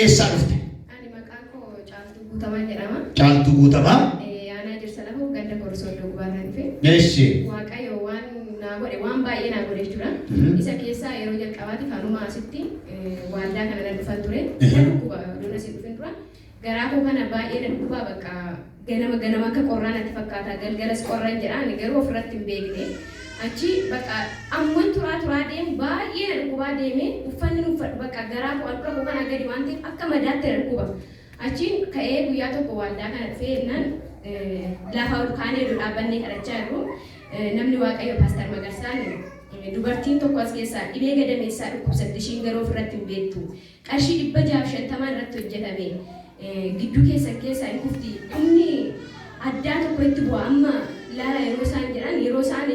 eessaa dhufte? Ani maqaan koo Caaltuu Guutamaa jedhama. Caaltuu Guutamaa. Eh, Aanaa Jirsa Lafoo ganda Korsooddoo Gubaarraa dhufe. Eessi. Waaqayyo waan naa godhe waan baay'ee naa godhe jechuudha. Mhm. Isa keessaa yeroo jalqabaatiif anuma asitti eh, waaldaa kana nan dhufan ture. Mhm. Nan dhukkuba oduun asiin dhufin dura. Garaa koo kana baay'ee na dhukkuba bakka Ganama ganama akka qorraa natti fakkaata, galgalas qorran jedha, ani garuu ofirratti hin beekne. Achi bakka ammuman turaa turaa deemu baay'ee na dhukkubaa deeme, uffannin uffadhu bakka garaa koo handhura koo kanaa gadi waan ta'eef akka madaatti na dhukkuba. Achiin ka'ee guyyaa tokko waaldaa kana dhufee jennaan lafa ol kaanee iddoo dhaabbannee kadhachaa jirru namni Waaqayyoo Paastar Magarsaan dubartiin tokko as keessaa dhibee gadameessaa dhukkubsatti ishiin garuu ofirratti hin beektu. qarshii 650 irratti hojjetame gidduu keessan keessaa hin kufti dhumni addaa tokko itti bu'a amma ilaala yeroo isaan jedhan yeroo isaan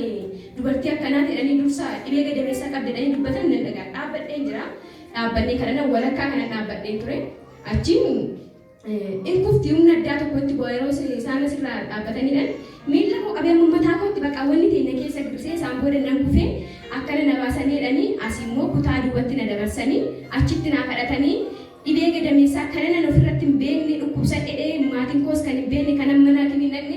dubartii akkanaa jedhanii dursa dhibee gadameessaa qabdi jedhanii dubbatan nan dhagaa dhaabbadheen jira dhaabbannee kana walakkaa kana dhaabbadheen ture achiin in kufti humna addaa tokko itti bu'a yeroo isaan asirraa dhaabbataniidhan miilla koo qabee amma mataa kootti bakka wanni ta'e na keessa girsee isaan booda nan kufee akkana na baasanii jedhanii asi immoo kutaa duwwatti na dabarsanii achitti naa kadhatanii dhibee gadameessaa kanan an ofirratti hin beekne dhukkubsadhe dhee maatiin koos kan hin beekne kanan mana hakimin dhaqne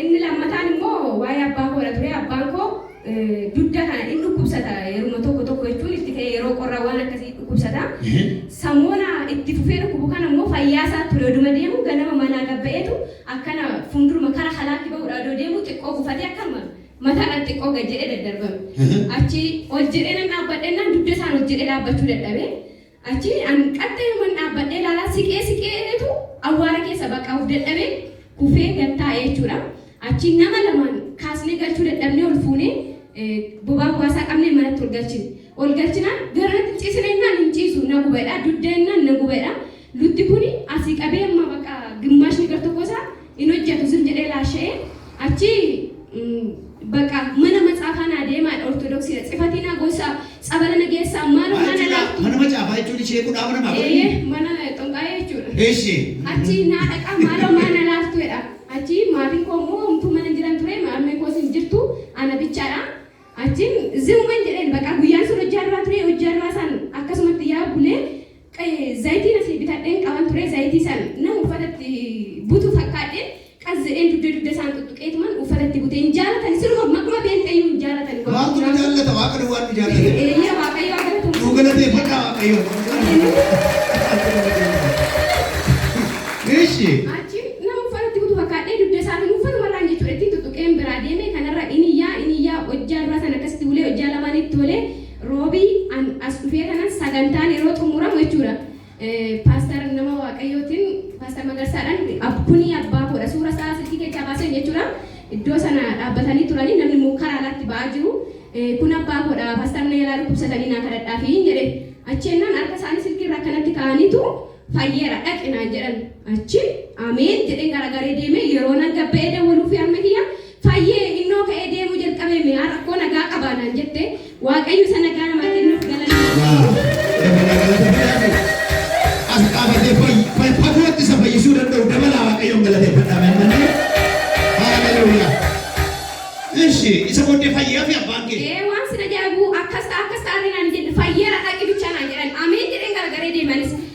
Inni lammataan immoo waa'ee abbaa koodha ture. Abbaan koo dugda kana in dhukkubsata yeruma tokko tokko jechuun itti ka'ee yeroo qorra waan akkasii dhukkubsata. Samoona itti fufee dhukkubu kana immoo fayyaa isaa ture oduma deemu ganama manaa gad ba'eetu akkana fuunduruma kara halaatti ba'uudha odoo deemu xiqqoo gufatee akkanuma mata irratti xiqqoo gad jedhee daddarbame. Achi ol jedhee nan dhaabbadha jennaan dugda isaan ol jedhee dhaabbachuu dadhabe. Achii an qaxxayuman dhaabbadhee ilaalaa siqee siqee eegetu awwaara keessa bakka of dadhabee kufee gad taa'e jechuudha. Achiin nama lamaan kaasnee galchuu dadhabnee ol fuunee bobaa hogaasaa qabnee manatti ol galchine. Ol galchinaan garanatti hin ciisina jennaan hin ciisu na guba jedha dugda jennaan na guba jedha lutti kuni asii qabee amma bakka gimmaashni gar tokkoo isaa hin hojjatu zim jedhee laasha'ee achii baqa mana matsaafaa naa deemaa ortodoksiidha tsifatii naa goosaa tsabala na geessaa maaloo naa na laaftuu. Mana macaafaa jechuun ishee kudhaa mana maa godhanii? Eeyyee mana xonqaayee jechuudha. Eshi. Achii naa dhaqaa maaloo maa na laaftuu jedha. Achii maatiin koo immoo homtuu mana hin jiran ture harmeen koos hin jirtu ana bichaadha. Achiin zimuman jedheen baqa guyyaan sun hojjaa irraa ture hojjaa irraa saan akkasumatti yaa bulee Zayitiin asii bitadheen qaban ture zayitii san nama uffata itti butu fakkaadheen qas jedheen dugda dugda isaan xuxxuqeetuman uffata itti bute hin jaalatan isinuma maquma beenxeeyyuu hin jaalatan Maaltu nu jaallata waaqa duwwaa nu jaallata. Eeyyee waaqayyoo haa galatamu. Nuu galateeffadhaa waaqayyoon. Ishi. Achiin nama uffata itti butu fakkaadhee dugda isaatiin uffatuma irraan jechuudha ittiin xuxxuqeen biraa deemee kanarra iniyyaa iniyyaa hojjaa duraa sana akkasitti bulee hojjaa lamaan itti olee Roobii an as dhufee kanan sagantaan yeroo xumuramu jechuudha Paastar nama Waaqayyootiin Paastar Magarsaadhaan kuni abbaa koodha suura isaa silkii keessaa baaseen jechuudha iddoo sana dhaabbatanii turanii namni immoo karaa alaatti ba'aa jiru kun abbaa koodha Paastar na jalaa dhukkubsatanii naa kadhadhaafiin jedhe achi ennaan harka isaanii silkii irra akkanatti kaa'aniitu fayyeera dhaqi naan jedhan achi ameen jedheen garagaree deemee yeroo nan gabba'ee dawwaluufi harmee kiyya Fayyee, innoo ka'ee deemuu jalqabee mi'aa rakkoo nagaa qabaa naan jette, Waaqayyo isa nagaa namaa kennuuf galanni haa Yaa! ta'u. Dabalaa galata fidaafii. As dhaabatee fayyi- fay- fagootti isa fayyisuu danda'u dabalaa Waaqayyoon galateeffadhaa mee amma illee. Haaleluyyaa. Eshi, isa booddee fayyaafii abbaan kee. Ee waan sin ajaa'ibu akkas ta'a akkas ta'a illee naan hin jenne fayyeera dhaqi bichaa naan jedhan ameen jedheen garagaree deemanis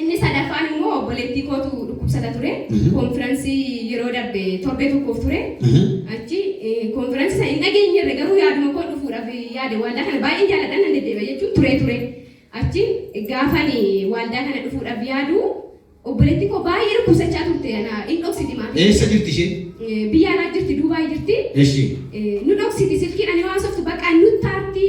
Inni sadaffaan immoo obboleettii kootu dhukkubsata ture. Konfiransii yeroo darbe torbee tokkoof ture. Achi konfiransii sana hin dhageenyerre garuu yaaduma koo dhufuudhaaf yaade waaldaa kana baay'een jaaladha nan deddeebi'a jechuun turee ture. Achi gaafan waaldaa kana dhufuudhaaf yaadu obboleettiin koo baay'ee dhukkubsachaa turte ana hin dhoksiti maatii. Eessa jirti isheen? Biyya alaa jirti Duubaay jirti. Eshi. Nu dhoksiti silkiidhaan yoo haasoftu baqaa nutti aarti.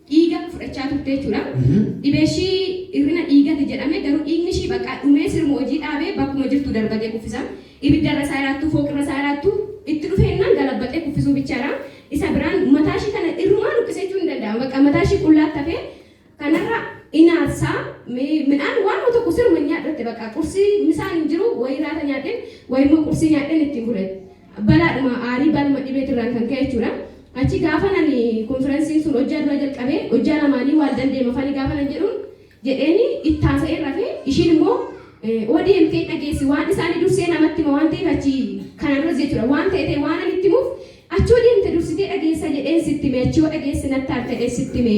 dhiiga fudhachaa turte jechuudha. Dhibeeshii hir'ina dhiigati jedhame garuu dhiignishii baqqa dhumee siruma hojii dhaabee bakkuma jirtu darbatee kuffisa. Ibiddarra isaa hiraattu, fooqirra isaa hiraattu itti dhufe jennaan galabbaxee kuffisuu bichaadha. Isa biraan mataashii kana irrumaa luqqise jechuun ni danda'ama. Baqqa mataashii qullaatti hafee kanarra in aarsa. Midhaan waanuma tokko siruma hin nyaadhu jette baqqa. Qursii misaan hin jiru, wayi hiraata nyaadheen, wayimmoo qursii nyaadheen ittiin bula jette. balaadhuma aarii baluma dhibeetirraan kan ka'e jechuudha. Achi gaafan ani konfiransiin sun hojjaa dura jalqabe hojjaa lamaanii waal dandeema fani gaafan an jedhuun jedheeni itti haasa'een rafe ishiin immoo ODM kee dhageessi waan isaanii dursee namatti hima waan ta'eef achi kanaan duras jechuudha waan ta'e ta'e waan an itti himuuf achi yoo deemte dursitee dhageessa jedheen sitti hime achi yoo dhageesse natti aarta jedhee sitti hime.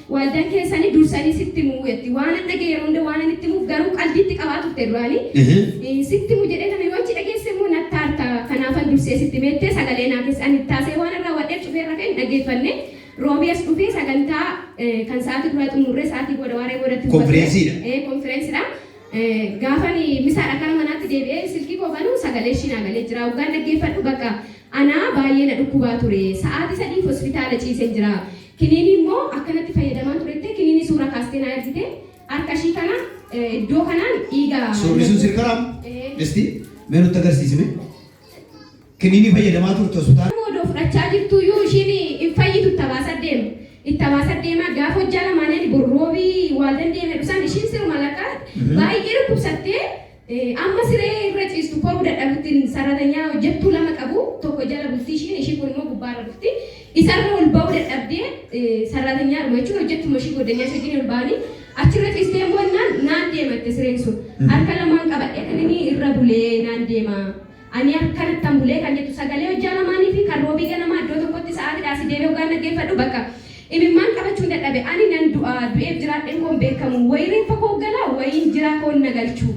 Waaldan keessani dursani sitti himu jetti waanan dhagee yeroo hunda waanan itti himuuf garuu qaldii itti qabaa turte duraani sitti himu jedhee kana yoo achi dhageesse immoo natti aarta kanaafan dursee sitti hime jettee sagalee naa keessa ani itti haasa'ee waanan raawwadheef cufeen rafee hin dhaggeeffanne roobii as dhufee sagantaa kan sa'aati duraa xumurree sa'aatii booda waaree boodatti dhufa ture Konfireensiidha. konfireensidha gaafan misaadha gara manaatti deebi'ee silkii koo banuu sagalee ishii naa galee jira hoggaan dhaggeeffadhu bakka anaa baay'ee na dhukkubaa ture sa'aatii sadiif hospitaala ciisen jira Kiniinii immoo akkanatti fayyadamaan turette kiniinii suuraa kaastee naa ergite harka ishii kana iddoo kanaan dhiiga Suurri sun siif karaam? Isti mee nutti agarsiisi mee. Kiniinii fayyadamaa turte hospitaala. Nama odoo fudhachaa jirtuu iyyuu ishiin hin fayyitu itti abaasa deema. Itti abaasa deema gaafa hojjaa lamaanii ani borroobii waaldan deeme dhusan ishiin siruma laqa baay'ee dhukkubsattee Amma siree irra ciistu koruu dadhabuttin saratanyaa hojjattuu lama qabu tokko jala bulti ishiin ishii kun immoo gubbaarra dhufti isarra ol ba'uu dadhabdee sarratanyaadhuma jechuun hojjattuma ishii goddanyaa ishee wajjin ol ba'anii achirra ciistee immoo innaan naan deema itti sireen sun harka lamaan qabadhee kan inni irra bulee naan deema Ani akkanattan bule kan jettu sagalee hojjaa lamaanii fi kan Roobii ganamaa iddoo tokkotti sa'aatiidhaa asii deemee hoggaan dhaggeeffadhu bakka imimmaan qabachuun dadhabe. Ani nan du'a, du'eef jiraadheen koo hin beekamu. Wayii reeffa koo galaa wayiin jiraa koon na galchu.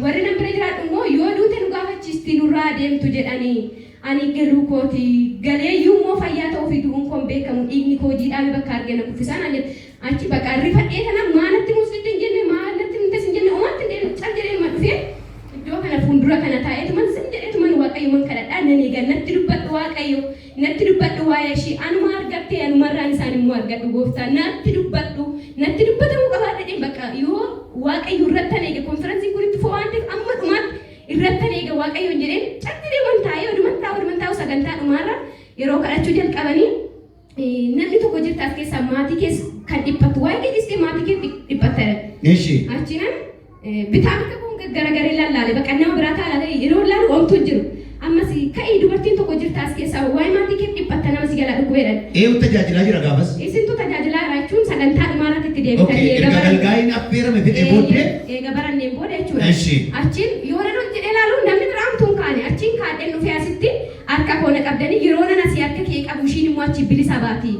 Warri nan bira jiraadhu immoo yoo duute nu gaafachiisti nurraa haa deemtu jedhanii. Ani galuu kooti. Galeeyyuu immoo fayyaa ta'uu fi du'uun koo hin beekamu. Dhiigni koo jiidhaame bakka arge na kuffisaa naan jette. Achi baqaa rifadhee tanan maa natti himuu sitti hin jenne maa natti himte sin jenne omaa natti hin deebine cal jedheenuma dhufee iddoo kana fuundura kana taa'eetuman zim jedheetuman waaqayyoman kadhadhaa nan eega natti dubbadhu waaqayyo natti dubbadhu waa'ee ishii anuma argadhe anumarraan isaan immoo argadhu gooftaa natti dubbadhu natti dubbatamuu qabaa jedheen bakka yoo waaqayyo irrattan eege konferansiin kun itti fufaa waan ta'eef amma dhumaatti irrattan eega waaqayyoon jedheen cal jedheeman taa'ee oduman taa'u oduman taa'u sagantaa dhumaarra yeroo kadhachuu jalqabanii Namni tokko jirta as keessaa maatii kees kan dhiphattu waa'ee kee dhistee maatii kee dhiphatta jedhan. Eshi. Achinan bitaa mirga koon garagaree lallaale baqa nama biraa ta'a laata yeroo laalu omtuu hin jiru. Ammas ka'ii dubartiin tokko jirta as keessaa waa'ee maatii keef dhiphatta nama si jalaa dhukkubee jedhan. Eeyu tajaajilaa jira gaafas. Isintu tajaajilaa jira jechuun sagantaa dhumaa irratti itti deebitanii Okay, eega erga baranne. galgaa'iin affeerame fixee booddee. Eeyyee, eega baranneen booda jechuudha. Eshi. Achiin yoonan ol jedhee laalu namni biraa omtuu hin kaane achiin kaadheen dhufee asitti Harka koo na qabdanii yeroonan asii harka kee qabu ishiin immoo achii bilisa baati.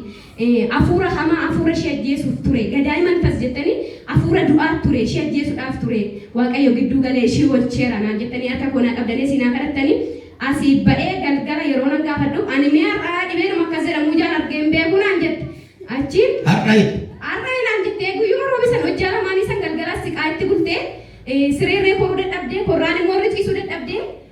Afuura hamaa afuura ishii ajjeesuuf ture. Gadaay manfas jettanii afuura du'aat ture ishii ajjeesudhaaf ture. Waaqayyo gidduu galee ishii oolcheera naan jettanii harka koo naa qabdanii asii naa kadhattanii asii ba'ee galgala yeroonan gaafadhu ani mee har'aa dhibeedhuma akkas jedhamu ijaan argee hin beeku naan jette. Achiin. Har'ayi. Har'ayi naan jettee guyyuma roobi san hojjaa lamaanii san galgalaas siqaa itti bultee siree irree koruu dadhabdee korraan immoo irra ciisuu dadhabdee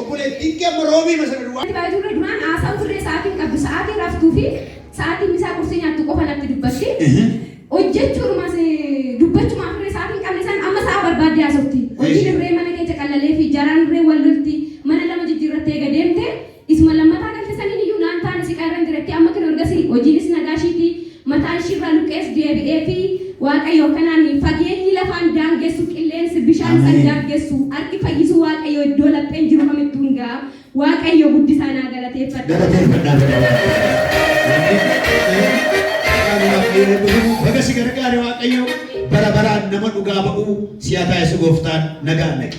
Obboleettiin kee amma roobiima sana duwwaa. Itti baay'ee turre duraan haasaa turre sa'aatiin qabdu sa'aatiin raftuu fi sa'aatiin misaa qursii nyaattu qofa natti dubbatti. Hojjechuudhumas dubbachumaaf irree sa'aatiin qabne san amma sa'a barbaaddee haasofti. Hojiin irree mana keessa qallalee fi jaraan irree wal lolti mana lama jijjiirrattee eega deemte isuma lammataa galte saniin iyyuu naan taane siqaa irran jira itti amma kino ergasii hojiinis nagaa ishiiti. mataa ishii irraa luqqees deebi'eefii, Waaqayyo akkanaan ni, fageenyi lafaa in daangessu, qilleensi, bishaan isa in Ameen. daangessu, harki fayyisuu Waaqayyoo iddoo lapheen jiru kamittuu in ga'a. Waaqayyo guddisaa naa galateeffadha. Galateeffadhaa gara Waaqayyoo. Wanni Waaqayyo maqaan Waaqayyoo eebbifamu. Baga si gargaare Waaqayyoo. Bara baraan nama dhugaa ba'uu si haa taasisu Gooftaan. Nagaan dhaqi.